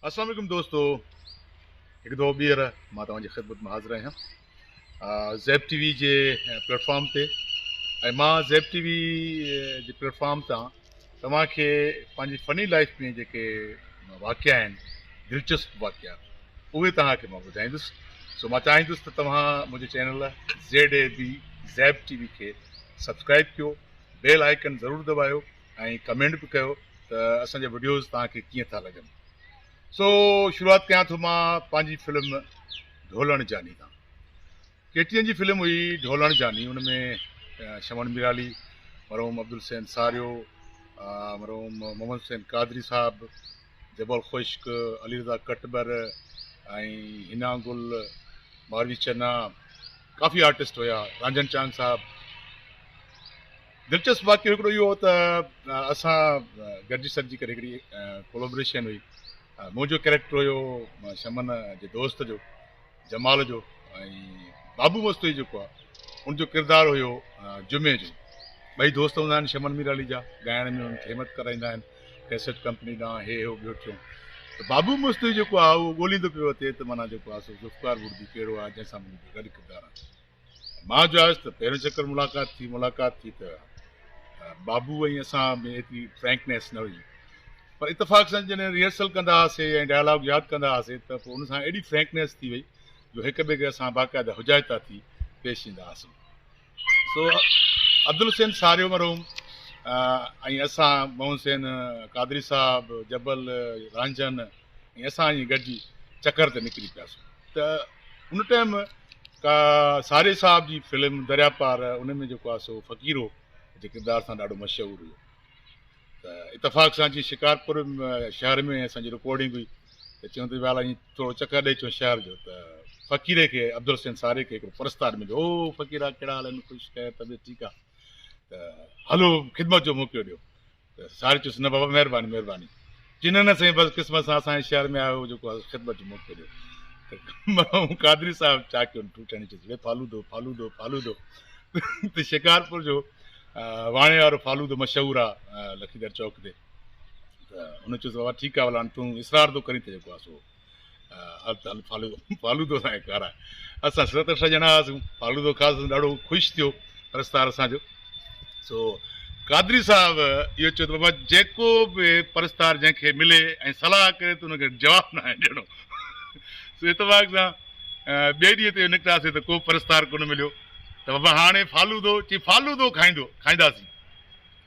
السلام علیکم دوستو هڪ دفعو ٻيهر مان توهان جي خدمت ۾ حاضر آهيان زيب ٽي وي جي پليٽفارم تي ۽ مان زيب ٽي وي جي پليٽفارم تان توهان کي پنهنجي فني لائيف ۾ جيڪي واقعا آهن دلچسپ واقعا اهي توهان کي مان ٻڌائيندس سو مان چاهيندس ته توهان منهنجي channel Z A B Zeb T V کي سبسڪرائيب ڪيو بيل آئيڪن ضرور دٻايو ۽ ڪمينٽ به ڪيو ته اسان جا وڊيوز توهان کي ڪيئن ٿا لڳن سو شروعات ڪيان ٿو مان پنهنجي فلم ڍولڻ جاني تان ڪيٽيئن جي فلم هئي ڍولڻ جاني ان ۾ شمن ميرالي، مرحوم عبدالحسين ساريو، مرحوم محمد حسين قادري صاحب، جبل خشڪ، علي رضا ڪٽٻر ۽ حنا گل، ماروي چنا ڪافي آرٽسٽ هيا، رانجهڻ چانگ صاحب. دلچسپ واقعو هڪڙو اهو هو ته اسان گڏجي سڏجي ڪري هڪڙي ڪولابريشن هئي منهنجو ڪيريڪٽر هيو شمن جي دوست جو، جمال جو ۽ بابو مستوئي جيڪو آ ان جو ڪردار هيو جمعي جو ٻئي دوست هوندا آهن شمن ميرالي جا ڳائڻ ۾ انهن کي همٿ ڪرائيندا آهن ڪيسٽ ڪمپني ڏانهن هي هيو ٻيو ٽيون ته بابو مستوئي جيڪو آ اهو ڳوليندو پيو اچي ته معنيٰ جيڪو آ سو ذوالفقار وڙدي ڪهڙو آ جنهن سان منهنجو گڏ ڪردار آ مان جو آيس ته پهريون چڪر ملاقات ٿي، ملاقات ٿي ته بابو ۽ اسان ۾ ايتري فرينڪنيس نه هئي پر اتفاق سان جڏهن ريهرسل ڪندا هئاسي ۽ ڊائلاگ ياد ڪندا هئاسي ته پوء ان سان ايڏي فرينڪنيس ٿي وئي جو هڪ ٻئي کي اسان باقاعده حجائتا ٿي پيش ايندا هئاسون سو عبدالحسين ساريو مرحوم ۽ اسان محمد حسين قادري صاحب جبل رانجهن ۽ اسان ائين گڏجي چڪر تي نڪري پياسون ته ان ٽائيم ڪا ساري صاحب جي فلم دريا پار ان ۾ جيڪو آهي سو فقير هو جي ڪردار سان ڏاڍو مشهور هيو ته اتفاق سان جي شڪارپور شهر ۾ اسان جي رڪارڊنگ هئي ته چيون ته ويالا ائين ٿورو چڪر ڏئي چون شهر جو ته فقيري کي عبدالحسين ساري کي هڪڙو پرستار مليو او فقيرا ڪهڙا حال آهن خوش خير طبيعت ٺيڪ آهي ته هلو خدمت جو موقعو ڏيو ته ساڙي چيس، نه بابا مهرباني مهرباني. چي نه نه سائين بس قسمت سان اسان جي شهر ۾ آيو جيڪو آهي سو خدمت جو موقعو ڏيو ته مرحوم قادري صاحب چاڪيو ٺو ٺاهي چيس لي فالودو فالودو فالودو ته شڪارپور جو واڻي وارو فالودو مشهور آ لکيدر چوڪ تي ته هن چيس بابا ٺيڪ آ هاڻي تون اصرار ٿو ڪرين ته جيڪو آ سو هر سال فالودو سان ايڪار آهي. اسان ست اٺ ڄڻا هئاسون. فالودو کاڌوسون ڏاڍو خوش ٿيو پرستار اسان جو. سو قادري صاحب اهو چيو ته بابا جيڪو به پرستار جنهن کي ملي ۽ صلاح ڪري ته ان کي جواب نه آهي ڏيڻو. سو اتفاق سان ٻئي ڏينهن تي نڪتاسين ته ڪو پرستار ڪونه مليو ته بابا هاڻي فالودو چي فالودو کائيندو کائينداسين.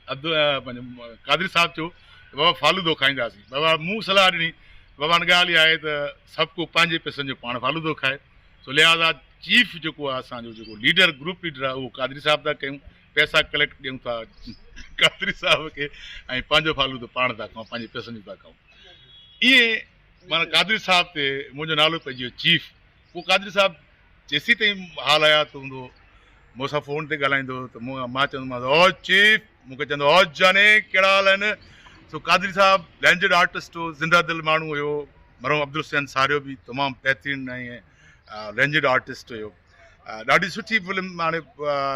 عبدالله قادري صاحب چيو ته بابا فالودو کائينداسين. بابا مون صلاح ڏني، بابا ان ڳالهه اها آهي ته سڀ ڪو پنهنجي پيسن جو پاڻ فالودو کائي، سو لهٰذا چيف جيڪو آهي اسان جو جيڪو ليڊر گروپ ليڊر آهي اهو قادري صاحب ٿا ڪيون، پيسا ڪليڪٽ ڏيون ٿا قادري صاحب کي ۽ پنهنجو فالودو پاڻ ٿا کائون، پنهنجي پيسن جو ٿا کائون. ائين معنيٰ قادري صاحب تي منهنجو نالو پئجي ويو چيف. پوء قادري صاحب جيسين تائين حال حيات هوندو مون سان فون تي ڳالهائيندو هو ته مون مان چوندومانس هو چيف مون کي چوندو هو جاني ڪهڙا حال آهن سو قادري صاحب لينجڊ آرٽسٽ هو زنده دل ماڻهو هيو مرحوم عبدالحسين ساريو به تمام بهترين ۽ لينجڊ آرٽسٽ هيو ڏاڍي سٺي فلم هاڻي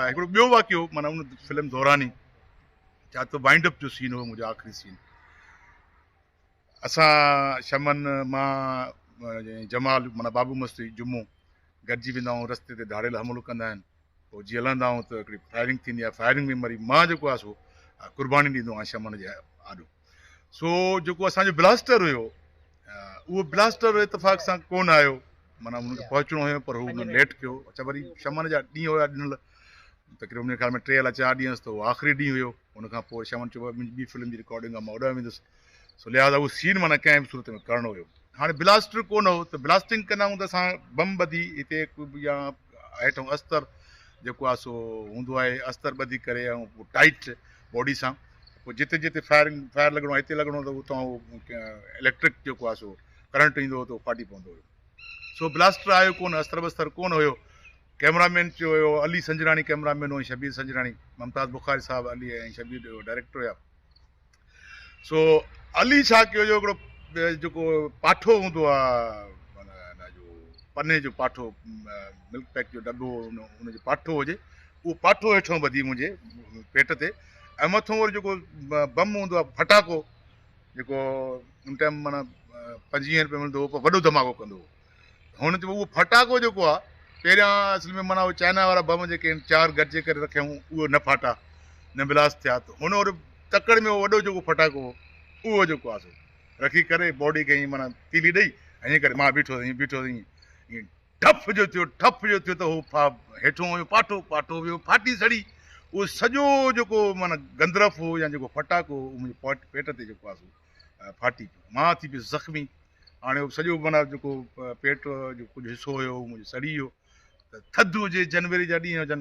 هڪڙو ٻيو واقعو مانا ان فلم دوران ئي چاهتو وائنڊ اپ جو سين هو منهنجو آخري سين اسان شمن، مان ۽ جمال معنيٰ بابو مستري جمعو گڏجي ويندا آهيون، رستي تي ڌاڙيل حملو ڪندا آهن، پوء جيئن لهندا آهيون ته هڪڙي فائرنگ ٿيندي آهي، فائرنگ ۾ مري مان جيڪو آهي سو قرباني ڏيندو آهيان شمن جي آڏو، سو جيڪو اسان جو بلاسٽر هيو اهو بلاسٽر اتفاق سان ڪونه آيو، معنيٰ ان کي پهچڻو هيو پر هو انهن ليٽ ڪيو، اڇا وري شمن جا ڏينهن هيا ڏنل، تقريبن منهنجي خيال ۾ ٽي الا چار ڏينهن هيس ته اهو آخري ڏينهن هيو. ان کان پوء شمن چيو ڀاء منهنجي ٻي فلم جي رڪارڊنگ آ مان اوڏانهن ويندس سو لهٰذا اهو سين معنيٰ ڪنهن به صورت ۾ ڪرڻو هيو. هاڻي بلاسٽر ڪونه هو ته بلاسٽنگ ڪندا هون ته اسان بم ٻڌي هتي يا هيٺئون استر جيڪو آ سو هوندو آهي استر ٻڌي ڪري ۽ پوء ٽائيٽ باڊي سان پوء جتي جتي فائرنگ فائر لڳڻو آ هتي لڳڻو هو ته اتان اليڪٽرڪ جيڪو آ سو ڪرنٽ ايندو هو ته اهو ڦاٽي پوندو هيو. سو بلاسٽر آيو ڪونه، استر بستر ڪونه هيو. ڪئميرا مين چيو ويو هو، علي سنجراڻي ڪئميرا مين هو ۽ شبير سنجراڻي، ممتاز بخاري صاحب، علي ۽ شبير ڊائريڪٽر هيا. سو علي ڇا ڪيو جو هڪڙو جيڪو پاٺو هوندو آ هن جو پني جو پاٺو ملڪ پيڪ جو ڊٻو ان جو پاٺو هجي اهو پاٺو هيٺون ٻڌي منهنجي پيٽ تي ۽ مٿون وري جيڪو بم هوندو آ ڦٽاڪو جيڪو ان ٽائيم معنيٰ پنجويهن رپين ملندو هو پر وڏو ڌماڪو ڪندو هو هن چيو اهو ڦٽاڪو جيڪو آهي پهريان اصل ۾ معنيٰ چائنا وارا بم جيڪي آهن چار گڏجي ڪري رکيائون اهو نه ڦاٽا نه بلاس ٿيا ته هن ور تڪڙ ۾ وڏو جيڪو ڦٽاڪو هو اهو جيڪو آهي رکي ڪري باڊي کي ائين معنيٰ تيلي ڏئي ائين ڪري ماء بيٺو ائين بيٺو ائين ٺڦ جو ٿيو، ٺڦ جو ٿيو ته هو ڦا هيٺون ويو پاٺو، پاٺو ويو ڦاٽي سڙي، اهو سڄو جيڪو معنيٰ گندرف هو يا جيڪو ڦٽاڪو هو اهو منهنجي پوٽ پيٽ تي جيڪو آهي سو ڦاٽي پيو، مان ٿي پيس زخمي، هاڻي اهو سڄو معنيٰ جيڪو پيٽ جو ڪجهه حصو هيو اهو منهنجو سڙي ويو ته ٿڌ هجي جنوري جا ڏينهن هجن،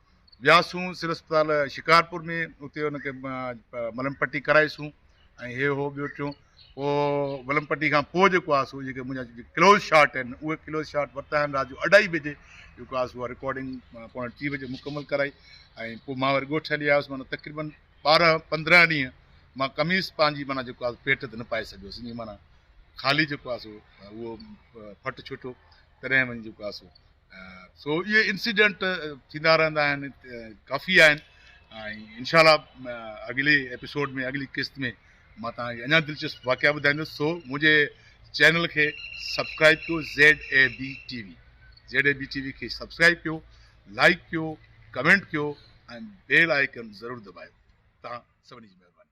وياسون سول اسپتال شڪارپور ۾ اتي ان کي ملم پٽي ڪرائي سون ۽ هي هو ٻيو ٽيون پوء ملم پٽي کان پوء جيڪو آهي سو جيڪي منهنجا جيڪي ڪلوز شاٽ آهن اهي ڪلوز شاٽ ورتا آهن رات جو اڍائي بجي جيڪو آهي سو رڪارڊنگ پوڻي ٽي بجي مڪمل ڪرائي ۽ پوء مان وري ڳوٺ هلي آيس مانا تقريبن ٻارهن پندرهن ڏينهن مان قميص پنهنجي مانا جيڪو آهي پيٽ تي نه پائي سگهيس ائين مانا خالي جيڪو آهي سو اهو ڦٽ ڇٽو تڏهن وڃي جيڪو آهي سو سو اهي انسيڊنٽ ٿيندا رهندا آهن ڪافي آهن ۽ انشاء الله اڳلي ايپيسوڊ ۾ اڳلي قسط ۾ مان توهان کي اڃا دلچسپ واقعا ٻڌائيندس سو منهنجي چينل کي سبسڪرائب ڪيو Z A B T V Z A B T V کي سبسڪرائب ڪيو لائڪ ڪيو ڪمينٽ ڪيو ۽ بيل آئڪن ضرور دٻايو تان سڀني جي مهرباني